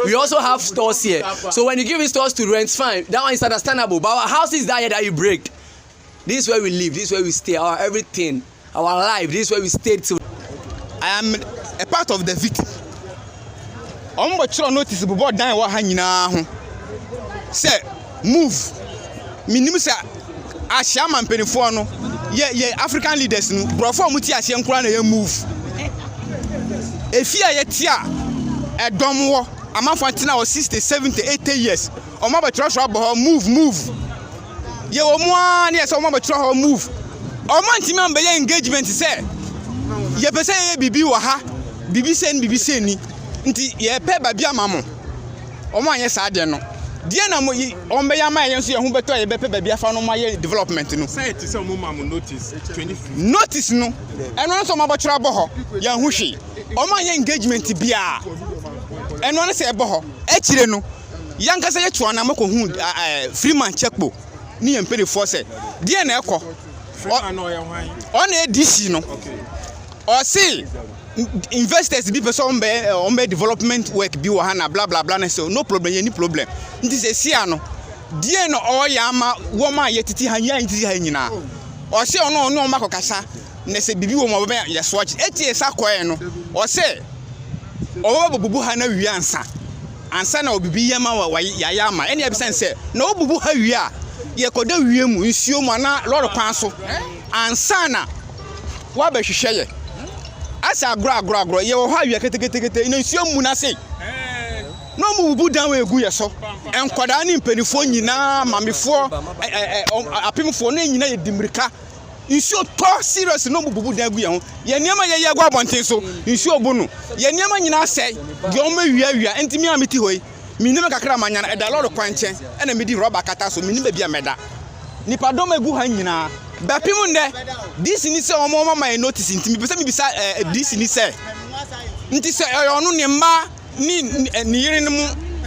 we also have stores here so when you give me stores to rent fine that one is understandable but our house is that here that you break this is where we live this is where we stay our everything our life this is where we stay till i am a part of the victim ɔmo bɔ kyerɛ notice bobɔ dan wɔ ha nyinaa ho sɛ move menim sɛ ahyɛ ama mpanimfoɔ no yɛ yɛ african leaders no borɔfo a wɔte aseɛ nkoraa na yɛ move efi a yɛte a ɛdɔm wɔ amanfoɔ atena hɔ 60 70 80 years wɔn abɛtwerɛ so abɔ hɔ move move yɛ wɔn a ne yɛ sɛ wɔn abɛtwerɛ hɔ move wɔn antumi ambɛyɛ engagement sɛ yɛpɛ sɛ yɛyɛ biribi wɔ ha biribi sɛ ni biribi sɛ ni nti yɛpɛ baabi ama mo wɔanyɛ saa deɛ no, deɛ na mo yi wɔn bɛyɛ ama yɛn nso yɛn ho bɛtɔ a yɛbɛpɛ baabi afa no ma yɛ development no. sɛ ɛte sɛ wɔn ma mo notice twenty four. notice no ɛno ano sɛ wɔn abɛtwerɛ abɔ hɔ yɛn ho hwee wɔn anyɛ engagement biara ɛno ano sɛ ɛbɔ hɔ akyire no yɛn ankasa yɛ to anam akɔ hu ɛɛ freeman checkpo ne yɛn mpanimfoɔ sɛ deɛ na ɛkɔ ɔna ɛdi si no. Ɔse investors bi pɛ sɛ ɔmbɛ ɔmbɛ development work bi wɔ ha na bla bla bla ne so no problem yɛni problem nti sɛ si ano deɛ na ɔyɛ ama wɔn a yɛtete ha yɛn tete ha nyinaa ɔse ɔno ɔne ɔmo akɔkasa na sɛ biribi wɔ mu ɔbɛbɛn yɛsoa kye etie sa kɔɛ no ɔse ɔbɛbɛ bɔbubu ha na wie ansa ansa na ɔbibi yɛ ma wa yɛayɛ ama ɛne ɛbisɛn sɛ na ɔbubu ha wie a yɛkɔda wie mu nsuo mu anaa lɔre kwan so ansa na Woabɛhwehwɛ yɛ asɛ agorɔ agorɔ agorɔ yɛwɔ hɔ awia ketekete na nsuo mmu n'ase na wɔn bubu dan wɔ egu yɛ so nkwadaa ne mpanimfoɔ nyinaa mamefoɔ ɛɛ apemfoɔ ne nyinaa yɛ di mmirika nsuo tɔ serious na wɔn bubu dan gu yɛn ho yɛn nneɛma yɛ yɛ gu abɔnten so nsuo bu no yɛn nneɛma nyinaa sɛe deɛ wɔn awia awia ntumi a meti hɔ yi. Minni me kakra a manya no, ɛda lɔre kwan nkyɛn na midi rɔba akata so, minni baabi a mɛda. Nnipadɔm a egu ha nyinaa bɛpem nnɛ DC ni sɛ wɔama yɛn notice nti mepɛ sɛ mibisa eh, DC ni sɛ, nti sɛ ɛyɛ ɔno, ne mma ne eh, ne yerenom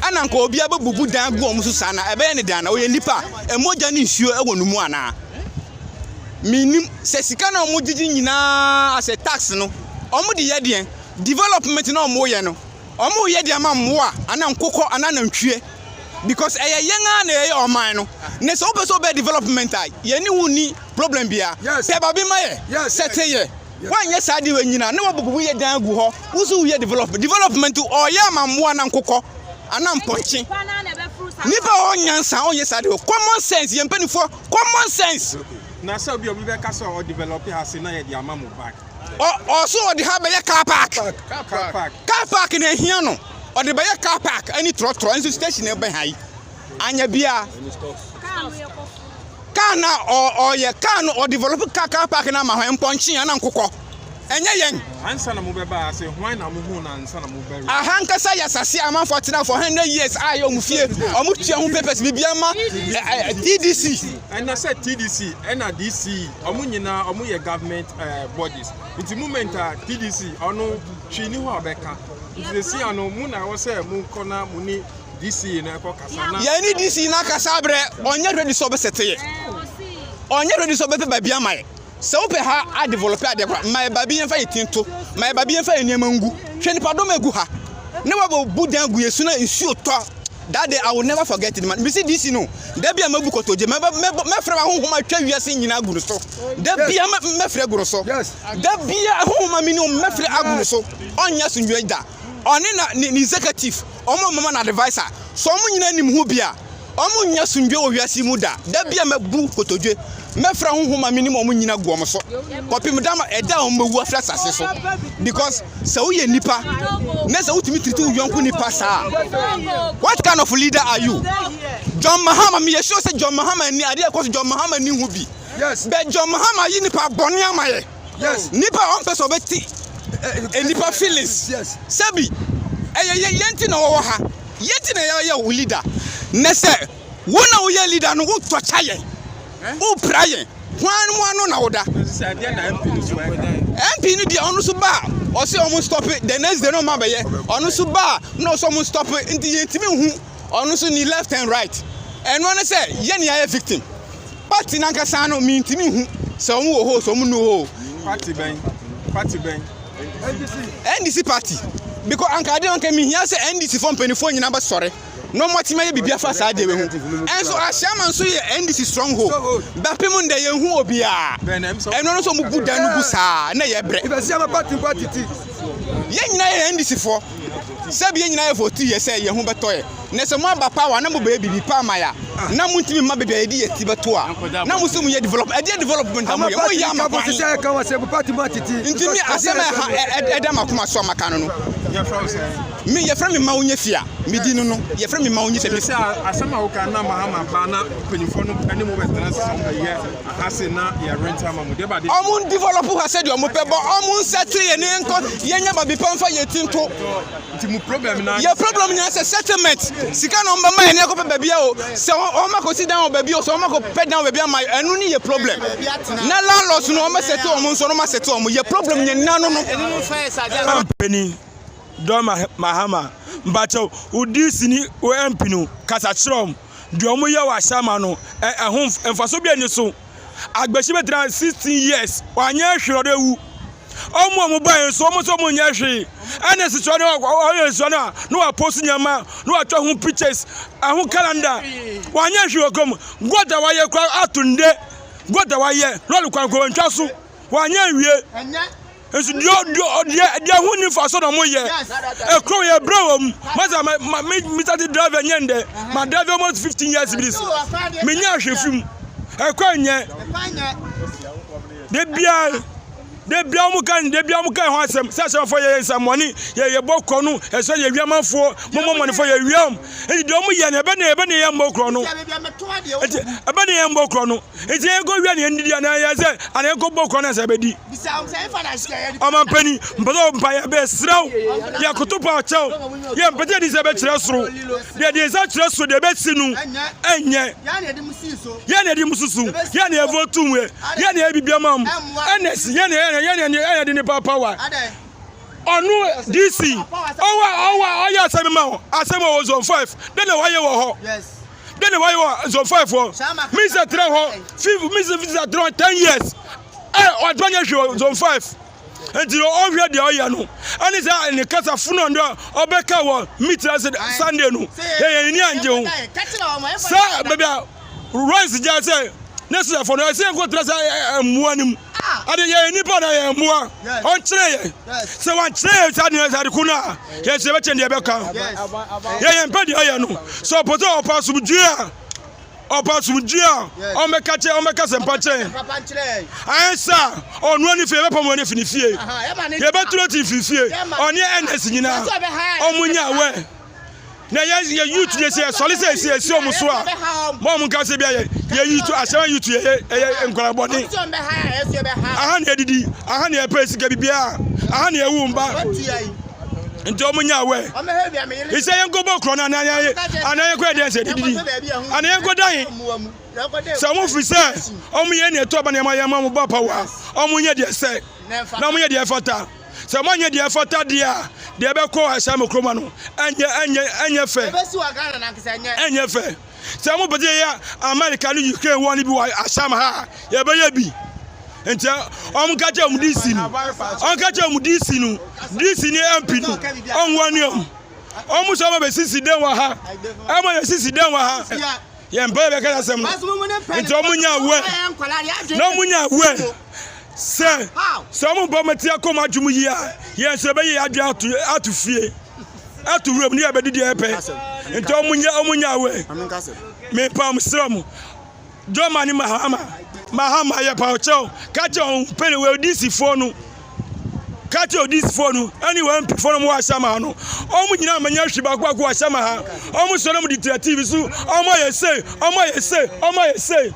ɛna nka obiara bɛbubu dan agu wɔn so saa na ɛbɛyɛ ne dan na ɔyɛ nnipa a mogya ne nsuo wɔ no mu anaa? Menim sɛ sika na wɔgyegye nyinaa asɛ tax no wɔde yɛ deɛn development na wɔyɛ no Ɔmo yɛ de ama mmoa anaa nkokɔ anaa nantwie because ɛyɛ yɛn ara na yɛyɛ ɔman no na sɛ wopɛ sɛ wobɛ development a yɛne wo nni problem bia pɛ babi ma yɛ sɛ te yɛ woanyɛ saa de wanyina na wabubu wo yɛ dan agu hɔ wo so woyɛ development development ɔyɛ ama mmoa anaa nkokɔ anaa mpɔnkye nipa ɔ nyansa ɔnyɛ saa de common sense yɛn mpanimfoɔ common sense na sɛ obi obi bɛka sɛ ɔ develop ha se na yɛ de ama mo ban ɔ ɔso ɔde ha bɛyɛ car park car park na ehia no ɔde bɛyɛ car park ɛne trɔtrɔ nso station na ɛbɛn ha yi anya bia car na ɔ ɔyɛ car no ɔ develop car car park na ama hɔ mpɔnkye ana nkokɔ ɛnyɛ yɛn ansa na mo bɛba ase hwan na mo hu na ansa na mo bɛ aha nkasa yɛ asase a amanfoɔ tena for hundred years a yɛ ɔmo fie ɔmo tua ho papers biribi ama tdc ɛna sɛ tdc ɛna dc ɔmo nyinaa ɔmo yɛ government ɛɛ eh, bodies nti movement a TDC ɔno hwii ni hɔ a ɔbɛka nti sisi ano mo na ɛwɔ sɛ mo kɔ na mo ni DC no ɛkɔ kasa na. yɛn ni DC na kasa abrɛ ɔnyɛ ready sɛ ɔbɛsɛ te yɛ ɔnyɛ ready sɛ ɔbɛpɛ baabi ama yɛ sɛ wopɛ ha adevelop adeɛ kora ma yɛ baabi yɛn fa yɛ tin to ma yɛ baabi yɛn fa yɛ nneɛma ngu hwɛ nipa dɔm egu ha ne wabɔ bu dan gu yɛ su na nsuo tɔ. That day I will never forget it man mesi DC no da bia mabu kotodwe mɛfrɛ ma honhom atwa wiase nyina agu no so da bia mɛfrɛ agu no so da bia honhom amini o mɛfrɛ agu no so ɔnyɛ so nwie da ɔne na ne executive ɔmo mama na advisor so ɔmo nyina nim ho bia ɔmo nyɛ so nwie wɔ wiase mu da da bia mabu kotodwe mɛfrɛ wɔn homa me ne wɔn nyina gu wɔn so kɔpem da ɛda a wɔn bɛwu afiri asase so because sɛ woyɛ nipa na sɛ wotumi tiriti wo yɔnko nipa saa what kind of leader are you John Mahama meyɛ sure sɛ John Mahama ni adeɛ ɛkɔ so John Mahama ni ho bi bɛ John Mahama yi nipa bɔne ama yɛ nipa a ɔmpɛ sɛ ɔbɛte nipa feelings sɛbi ɛyɛ yɛnti na wɔwɔ ha yɛnti na yɛyɛ wo leader na sɛ Wo na woyɛ leader no, wo tɔkya yɛn, wo pra yɛn, hwan mu ano na woda? MP no deɛ ɔno so ba a, ɔse ɔmo stop the next day no ɔma bɛyɛ, ɔno so ba a, na ɔsɛ ɔmo stop nti yɛn timi hu ɔno so ni left and right. Ɛno ne sɛ yɛn yɛ ayɛ victim. Party nankasa no mi ntimi hu sɛ ɔmo wɔ hɔ sɛ ɔmo nu hɔ. Party bɛn? Party bɛn? NDC party. Because anka adeɛ anka mi hia sɛ NDC fo mpanyinfoɔ nyina bɛ sɔre. na wɔatumi ayɛ biribi afa saa adeɛ wei ho ɛnso ahyɛma nso yɛ ndc stronghold bɛpem ndɛ yɛn hu obiara ɛno no nso wɔn bu dan no gu saa na yɛ brɛ yɛn nyinaa yɛ ndc foɔ sɛbi yɛn nyinaa yɛ vote yɛ sɛ yɛn ho bɛtɔ yɛ na sɛ mo aba power na mo bɛyɛ biribi pa ama ya na mo ntumi mma baabi a yɛde yɛ ti bɛto a na mo sɛ mo yɛ develop ɛdeɛ development a mo yɛ mo yɛ ama kwan ntumi asɛm a ɛha ɛda makoma so a maka no no Me, yɛfrɛ me mma wonyɛ fie a medi no no, yɛfrɛ me mma wonyɛ fie a medi no. Sɛ a, asɛm a woka na Mahama ba na mpanyimfoɔ no ne mo bɛtena ase sɛ wɔbɛyɛ ha se na yɛrent ama mo, deɛ ɛba de. Wɔn develop ha sɛdeɛ wɔn pɛ, but wɔn nsettle yɛn nkɔ yɛnyɛ baabi pa mfa yɛn ti nto. Nti mo problem nyinaa. Yɛn problem nyinaa sɛ settlement, sika na wɔn bɛma yɛn na yɛakɔpɛ baabi a o, sɛ wɔn akɔsi dan wɔ baabi o, sɛ wɔn akɔpɛ dan wɔ baabi ama yɛn, ɛno ne yɛn problem. Na landlords no wɔn bɛsettle wɔn nso no wɔn asettle wɔn, yɛn problem nyinaa no no. Ɛno no nso ayɛ sɛ adeɛ a. Mpanin. Don Mahama, mpakyɛw wo DC ne wo MP no kasa kyerɛ wɔn. Deɛ wɔn yɛ wɔ Ashama no, ɛ ɛho mfaso bia ni so. Agbashi bɛtena 16 years, wanyɛ hwee ɔde awu. Wɔn a wɔn baeɛ nso, wɔn nso wɔn nyɛ hwee. Ɛna nsesua no, wɔyɛ nsesua no a, na wɔapost nneɛma, na wɔatwa ho pictures, ɛho calendar. Wanyɛ hwee wɔ kurom. God a wayɛ kora ato nde. God a wayɛ, lɔre kwan kora wɔntwa so. Wanyɛ nwie. Nso deɛ deɛ deɛ ho ni fa so na mo yɛ ekuro yɛ brɛ wɔm masa ma ma me me sati driver nyɛ ndɛ ma driver almost fifteen years bi so me nyɛ ahwɛ fi mu ɛkɔ nyɛ de bia de bia wɔn kan de bia wɔn kan ho asɛm sɛ asɛmfo yɛ yɛn nsɛmɔni yɛ yɛ bɔ kɔ no ɛsɛ yɛ wia manfoɔ mo mo mɔnifo yɛ wia wɔn ɛdi deɛ wɔn yɛ no ɛbɛ ne ɛbɛ ne yɛ mbɔ korɔ no ɛbɛ ne yɛ mbɔ korɔ no. nti na yɛkɔ wia na yɛn didi anaa yɛ sɛ anaa yɛkɔ bɔ kwan na sɛ bɛdi ɔman panyin mpɛ sɛ ɔmpa yɛ bɛɛ sraw yɛ koto pa ɔkyɛw yɛ mpɛ sɛ ɛdi sɛ bɛkyerɛ soro deɛ deɛ nsa kyerɛ soro deɛ bɛsi no ɛnyɛ yɛ na ɛdi mu susu yɛ na ɛvɔ tum yɛ yɛ na ɛbi bi ama mu ɛna si yɛ na yɛ na yɛ na yɛ na ɛdi ne papa wa ɔno dc ɔwɔ ɔwɔ ɔyɛ asɛm ma asɛm wɔ zone five dɛ na wɔayɛ wɔ hɔ. Dɛn na wayɛ wɔ Zofaefoɔ? Misa tena hɔ fif Misa visa tena hɔ ten years ɛ eh, ɔtɔ nyɛ hwɛ wɔ Zofaef nti ɔhwɛ deɛ ɔyɛ no ɛne sɛ ne kasa funu ɔndɔ ɔbɛka wɔ mitra Sunday no yɛyɛ ne ni angye ho sɛ baabi a Royce gya sɛ ne srɛfoɔ no ɛsɛ nkɔtena sɛ mmoa no mu Ade yɛn nnipa na yɛn mmoa. Ɔnkyerɛ yɛn. Sɛ wankyerɛ yɛn saa deɛ sɛ ade ko no a, yɛn sɛ yɛbɛkyɛn deɛ ɛbɛka. Yɛ yɛn pɛ deɛ ayɛ no. Sɛ ɔpɛ sɛ ɔpa asomdwoe a, ɔpa asomdwoe a, ɔmmɛka kyɛ ɔmmɛka sɛmpa kyerɛ yɛn. Ayɛ saa a, ɔno ani fie yɛbɛpam wɔn afi ne fie. Yɛbɛturo ti mfiri fie. Ɔne NS nyinaa, ɔmo nya awɛ. na yɛ yɛ youth yɛ sɛ sɔle sɛ ɛsi ɛsi ɔmo so a mo ɔmo nka sɛ bi a yɛ yɛ youth asɛm a youth yɛ yɛ ɛyɛ nkwadaa bɔne aha na yɛdidi aha na yɛpɛ sika bibiara aha na yɛwo mba nti ɔmo nya awɛ isɛ yɛn kɔ bɔ korɔ no anaa yɛn anaa yɛn kɔ yɛ dɛn sɛ dididi anaa yɛn kɔ dan sɛ ɔmo fi sɛ ɔmo yɛ ne ɛtɔ ba na yɛn ma yɛn ma ɔmo ba pa wa ɔmo nyɛ deɛ sɛ na ɔmo nyɛ deɛ fata. Sɛ moanyɛ deɛ ɛfata deɛ a, deɛ ɛbɛkɔ ahyɛ mo kuroma no, ɛnyɛ ɛnyɛ ɛnyɛ fɛ. Ɛnyɛ fɛ. Sɛ mo pɛsɛ yɛyɛ America ne Ukraine war no bi wɔ Asham ha a, yɛbɛyɛ bi. Nti wɔn ka kyerɛ wɔn DC no, wɔn ka kyerɛ wɔn DC no, DC ne MP no, wɔn wɔn ne wɔn. Wɔn sɛ wɔn bɛsisi dɛn wɔ ha, ɛma yɛsisi dɛn wɔ ha. Yɛn mpɛ yɛbɛka asɛm no. Nti wɔn nya aware, na wɔn nya aware. sɛ sɛ ɔmo bɔ ɔmo ti akɔ ɔmo adwuma yie a yɛn nso ɛbɛyɛ yɛn adwene ato ato fie ato wuram ne yɛ bɛdi deɛ ɛpɛ nti ɔmo nyɛ ɔmo nyɛ awɛ mepa ɔmo srɛ ɔmo jɔma ne mahama mahama yɛ pa ɔkyɛw kakyɛ ɔmo pɛne wɔ odisifoɔ no kakyɛ odisifoɔ no ɛne wɔn mpifoɔ no ɔmo wɔ ahyɛma ha no ɔmo nyinaa ma nyɛ hwi baako baako wɔ ahyɛma ha ɔmo sɔrɔ ɔmo de tira tv so ɔmo ayɛ sei ɔmo ayɛ sei ɔmo ayɛ sei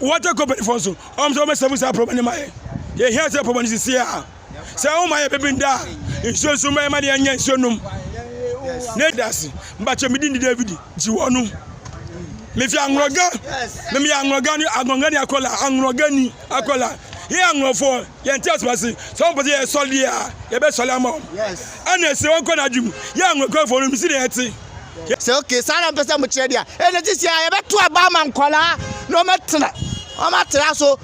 water company fɔ nso ɔm sɛ ɔmɛsɛfo saa pɔmɔ ne ma yɛ yɛhia sɛ pɔmɔ no sisi a sɛ ɔma yɛ bɛbi nda a nsuo nso ma yɛma ne yɛnyɛ nsuo nom ne dase mbakyɛ medi ne david gye wɔ no mefi anworɔga memeyɛ anworɔga ne anworɔga ne akɔla anworɔga ni akɔla yɛ anworɔfoɔ yɛnte asoma se sɛ ɔmpɛ sɛ yɛsɔre deɛ a yɛbɛsɔre ama ɔm ɛna ɛsɛ wɔnkɔ no adwe mu yɛ anworɔgafoɔ no mesi ne yɛte sɛ okay saa na mpɛ sɛ mo kyerɛ deɛ a ɛna gye sɛ yɛbɛto aba ama nkwadaa na wɔatena wɔatena so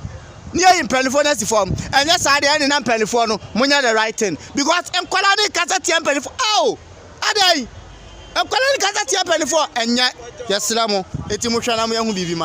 ne yɛyi mpanimfoɔ no asi fam ɛnyɛ saa deɛ ɛne na mpanimfoɔ no monyɛ the right thing because nkwadaa ne kasa tia mpanimfoɔ ao adɛn nkwadaa ne kasa tia mpanimfoɔ ɛnyɛ yɛsrɛ mo eti mohwɛ na moyɛ ho biribi ma